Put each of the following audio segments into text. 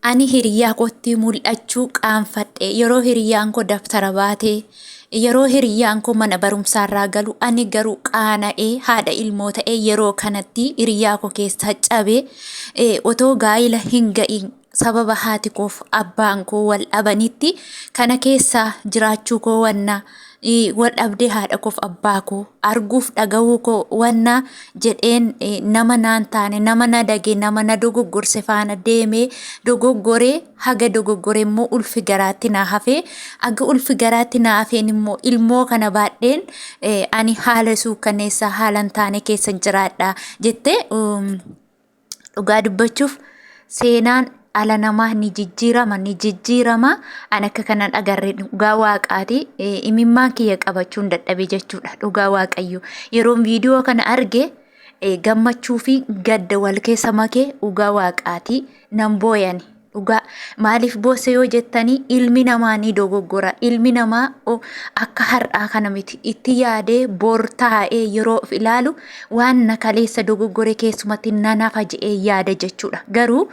Ani hiriyyaa kootti mul'achuu qaanfadhe. Yeroo hiriyyaan koo dabtara baatee, yeroo hiriyyaan koo mana barumsaarraa galu, ani garuu qaana'ee haadha ilmoo ta'ee yeroo kanatti hiriyyaa koo keessaa cabee eh, otoo gaa'ila hin ga'iin sababa haati koof abbaan koo wal dhabanitti kana keessaa jiraachuu koo wannaa wal dhabdee haadha koof abbaa koo arguuf dhagahuu koo wanna jedheen nama naan taane nama na dage nama na dogoggorse faana deemee dogoggoree haga dogoggore immoo ulfi garaatti naa hafee aga ulfi garaatti naa hafeen immoo ilmoo kana baadheen ani haala suukkaneessaa haalan taane keessa jiraadha jettee Dhugaa dubbachuuf seenaan ala namaa ni jijjiirama ni jijjiirama an akka kanan agarre dhugaa waaqaati imimmaan kiyya qabachuun dadhabe jechuudha dhugaa waaqayyo yeroon viidiyoo kana arge gammachuu fi gadda wal keessa makee dhugaa waaqaati nan booyani. Dhugaa maaliif boosse yoo jettanii ilmi namaa ni dogoggora. Ilmi namaa o- akka har'aa kana miti. Itti yaadee bor taa'ee yeroo of ilaalu waan na kaleessa dogoggore keessumatti nan hafa je'ee yaada jechuudha. Garuu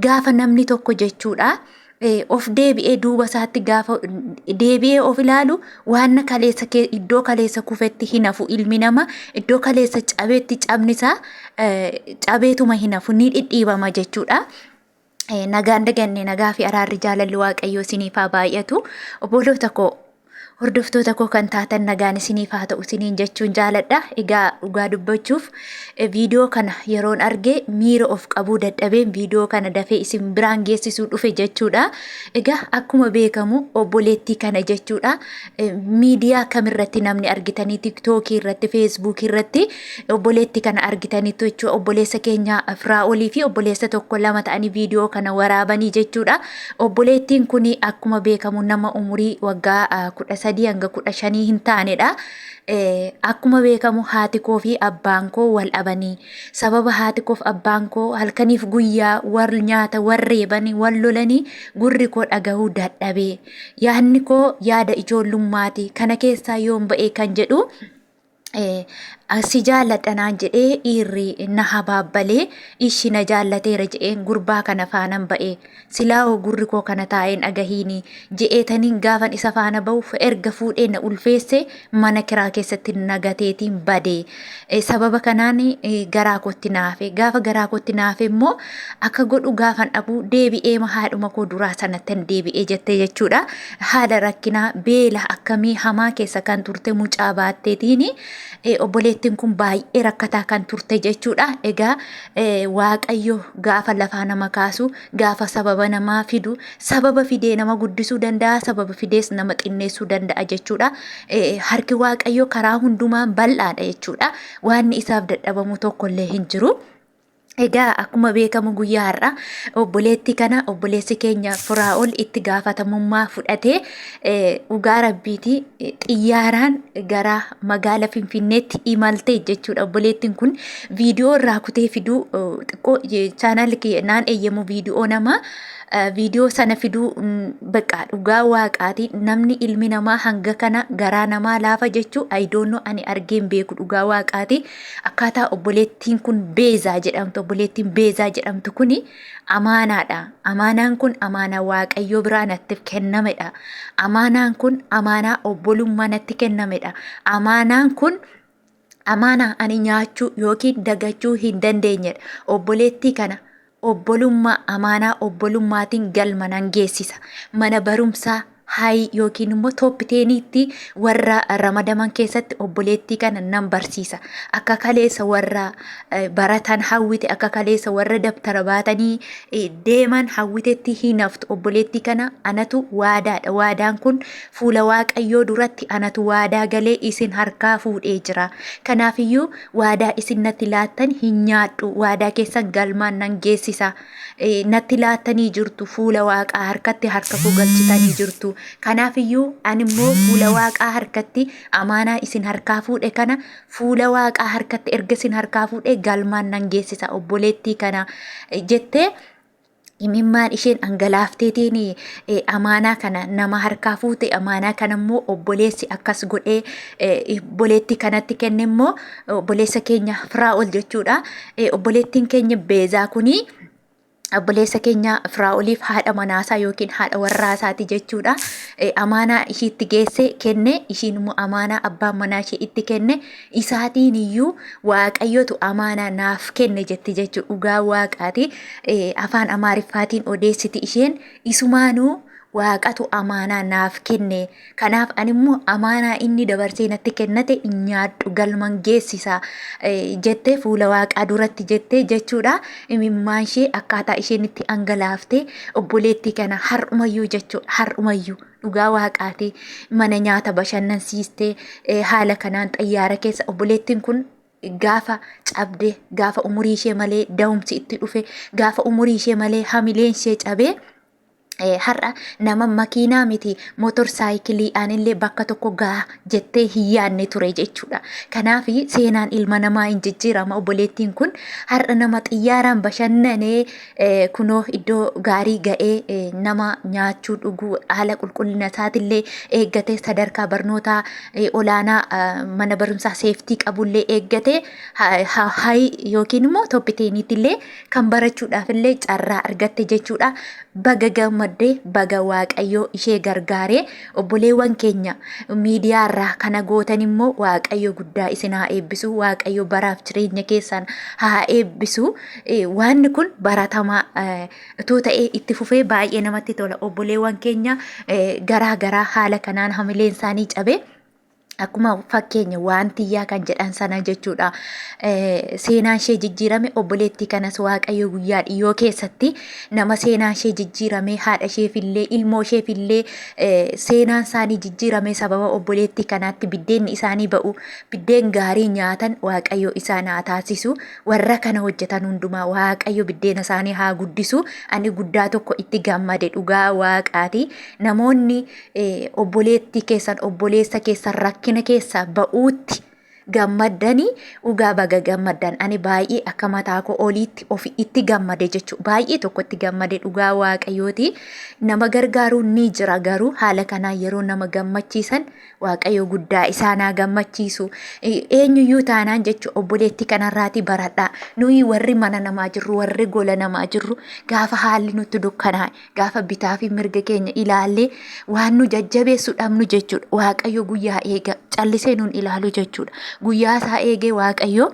gaafa namni tokko jechuudha eh, of deebi'ee duuba isaatti gaafa deebi'ee of ilaalu waan na kaleessa kee- iddoo kaleessa kufetti hin hafu ilmi namaa iddoo kaleessa cabetti cabni isaa eh, cabeetuma hin hafu ni dhidhiibama jechuudha. Eh, nagaan daganne nagaa fi araarri jaalalli waaqayyoo isiniif haa baay'atu obboloota koo hordoftoota koo kan taatan nagaan isiniif haa ta'u isiniin jechuun jaaladha egaa dhugaa dubbachuuf eh, viidiyoo kana yeroon arge miira of qabuu dadhabeen viidiyoo kana dafee isin biraan geessisuu dhufe jechuudha egaa akkuma beekamu obboleettii kana jechuudha eh, miidiyaa kamirratti namni argitanii tiktookii irratti feesbuukii irratti Obboleetti kana argitaniittu jechuudha. Obboleessa keenya Firaa'olii fi obboleessa tokko lama ta'anii viidiyoo kana waraabanii jechuudha. Obboleettiin kun akkuma beekamu nama umurii waggaa ah, kudha sadii hanga kudha shanii hin taanedha. Eh, Akkuma beekamu haati koo fi abbaan koo wal dhabanii sababa haati koof abbaan koo halkaniif guyyaa wal nyaata wal reebanii wal lolanii gurri koo dhagahuu dadhabee yaadni koo yaada ijoollummaati kana keessaa yoon ba'ee kan jedhu si jaalladha naan jedhee dhiirri na habaabbalee ishi na jaallateera jedheen gurbaa kana faanan ba'e silaa hoo gurri koo kana taa'een dhagahiini je'eetaniin gaafan isa faana ba'uuf erga fuudhee na ulfeesse mana kiraa keessatti na gateetiin bade sababa kanaan garaa kootti naafe gaafa garaa kootti naafe immoo akka godhu gaafan dhabuu deebi'ee haadhuma koo duraa sanattan deebi'ee jette jechuudha haala rakkinaa beela akkamii hamaa keessa kan turte mucaa baatteetiin obboleettiin kun baay'ee rakkataa kan turte jechuudha. Egaa waaqayyo gaafa lafaa nama kaasu gaafa sababa namaa fidu sababa fidee nama guddisuu danda'a sababa fidees nama xinneessuu danda'a jechuudha. Harki waaqayyo karaa hundumaan bal'aadha jechuudha. Waanni isaaf dadhabamu tokkollee hin jiru. Egaa akkuma beekamu guyyaa har'a obboleetti kana obboleessi keenya Firaa'ol itti gaafatamummaa fudhatee dhugaa rabbiiti xiyyaaraan gara magaala Finfinneetti imalte jechuudha. Obboleettiin kun viidiyoo irraa kutee fiduu xiqqoo chaanaal naan eeyyamu viidiyoo nama viidiyoo sana fiduu baqa dhugaa waaqaati namni ilmi namaa hanga kana garaa namaa laafa jechuu ayidoonoo ani argeen beeku dhugaa waaqaati. Akkaataa obboleettiin kun beezaa jedhamtu obboleettiin beezaa jedhamtu kun amaanaadha. Amaanaan kun amaanaa waaqayyoo biraa nattiif kennamedha. Amaanaan kun amaanaa obbolummaa natti kennamedha. Amaanaan kun amaanaa ani nyaachuu yookiin dagachuu hin dandeenyedha. Obboleettii kana obbolummaa amaanaa obbolummaatiin galma nan geessisa. Mana barumsaa haayii yookiin immoo tooppi teeniitti warra ramadaman keessatti obboleettii kana nan barsiisa. Akka kaleessa warra eh, baratan hawwite, akka kaleessa warra dabtara baatanii eh, deeman hawwitetti hin haftu. Obboleettii kana anatu waadaadha. Waadaan kun fuula Waaqayyoo duratti anatu waadaa galee isin harkaa fuudhee jira. Kanaafiyyuu Waadaa isin natti laattan hin nyaadhu, waadaa keessan galmaan nan geessisa. Natti laattanii jirtu, fuula waaqaa harkatti harka koo galchitanii jirtu. Kanaaf iyyuu ani immoo fuula waaqaa harkatti amaanaa isin harkaa fuudhe kana fuula waaqaa harkatti erga isin harkaa fuudhe galmaan nan geessisa obboleettii kana jettee imimmaan isheen dhangalaafteetiin eh, amaanaa kana nama harkaa fuute amaanaa kana immoo obboleessi akkas godhee eh, obboleetti kanatti kenne immoo obboleessa keenya firaa'ol jechuudha Eh, obboleettiin keenya beezaa kunii obboleessa keenya firaa'oliif haadha manaasaa yookiin haadha warraasaati jechuudha. Eh, Amaanaa ishiitti geesse kenne ishiin immoo amaanaa abbaan manaa ishee itti kenne isaatiin iyyuu waaqayyotu amaanaa naaf kenne jetti jechuudha. Dhugaa waaqaati afaan amaariffaatiin odeessiti isheen isumaanuu waaqatu amaanaa naaf kenne. Kanaaf animmoo amaanaa inni dabarsee natti kennate in nyaadhu galman geessisa jettee fuula waaqaa duratti jettee jechuudha. Imimmaan ishee akkaataa isheen itti angalaaftee obboleettii kana har'umayyuu jechuudha har'umayyuu. dhugaa waaqaati mana nyaata bashannansiistee eh, haala kanaan xayyaara keessa obboleettiin kun gaafa cabde gaafa umurii ishee malee da'umsi itti dhufe gaafa umurii ishee malee hamileen ishee cabee Eh, har'a nama makiinaa miti motor saayikilii anillee bakka tokko gaha jettee hin yaadne ture jechuudha. Kanaaf seenaan ilma namaa hin jijjiirama obboleettiin kun har'a nama xiyyaaraan bashannanee kunoo iddoo gaarii ga'ee nama nyaachuu dhuguu haala qulqullina isaatillee eeggatee sadarkaa barnootaa olaanaa mana barumsaa seeftii qabullee eeggatee hayi yookiin immoo toppiteeniitillee kan barachuudhaafillee carraa argatte jechuudha. Baga gammaddee baga waaqayyoo ishee gargaaree obboleewwan keenya miidiyaarraa kana gootan immoo waaqayyo guddaa isin haa eebbisu waaqayyo baraaf jireenya keessan haa eebbisu. Waanni kun baratamaa utuu ta'ee itti fufee baay'ee namatti tola. Obboleewwan keenya garaa garaa haala kanaan hamileen isaanii cabee akkuma fakkeenya waan tiyyaa kan jedhan sana jechuudha. Seenaan ishee jijjiirame obboleettii kanas waaqayyo guyyaa dhiyoo keessatti nama seenaan ishee jijjiirame haadha isheefillee ilmoo isheefillee seenaan isaanii jijjiirame sababa obboleettii kanaatti biddeenni isaanii ba'u biddeen gaarii nyaatan waaqayyo isaan haa taasisu. Warra kana hojjetan hundumaa Waaqayyo biddeena isaanii haa guddisu. Ani guddaa tokko itti gammade dhugaa Waaqaati. Namoonni eh, obboleettii keessan obboleessa keessan rakkina keessaa ba'uutti gammaddanii dhugaa baga gammaddan ani baay'ee akka mataa koo oliitti ofi itti gammade jechuudha baay'ee tokko itti gammade dhugaa waaqayyooti nama gargaaruun ni jira garuu haala kanaan yeroo nama gammachiisan Waaqayyo guddaa isaan haa gammachiisu. Eenyuyyuu taanaan jechuun obboleettii kanarraatii baradhaa. Nuyi warri mana namaa jirru, warri gola namaa jirru gaafa haalli nutti dukkanaa'e, gaafa bitaa fi mirga keenya ilaallee waan nu jajjabeessu dhabnu jechuudha. Waaqayyo guyyaa eega callisee nuun ilaalu jechuudha. Guyyaa isaa eegee Waaqayyo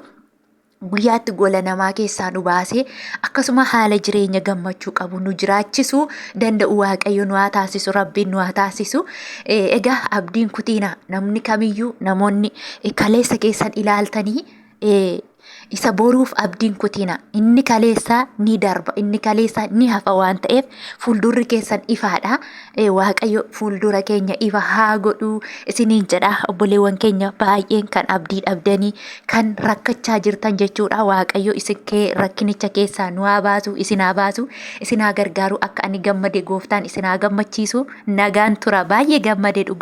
guyyaatti gola namaa keessaa nu baasee akkasuma haala jireenya gammachuu qabu nu jiraachisuu danda'u waaqayyo nu haa taasisu rabbiin nu haa taasisu Eh, egaa abdiin kutiina namni kamiyyuu namoonni eh, kaleessa keessan ilaaltanii eh, isa boruuf abdiin kutiina inni kaleessaa ni darba inni kaleessaa ni hafa waan ta'eef fuuldurri keessan ifaadha Eh, Waaqayyo fuuldura keenya ifa haa godhu isiniin jedha obboleewwan keenya baay'een kan abdii dhabdanii kan rakkachaa jirtan jechuudha Waaqayyo isin kee rakkinicha keessaa nu haa baasu isin haa baasu isin haa gargaaru akka ani gammade gooftaan isin haa gammachiisu nagaan tura baay'ee gammade dhugaa.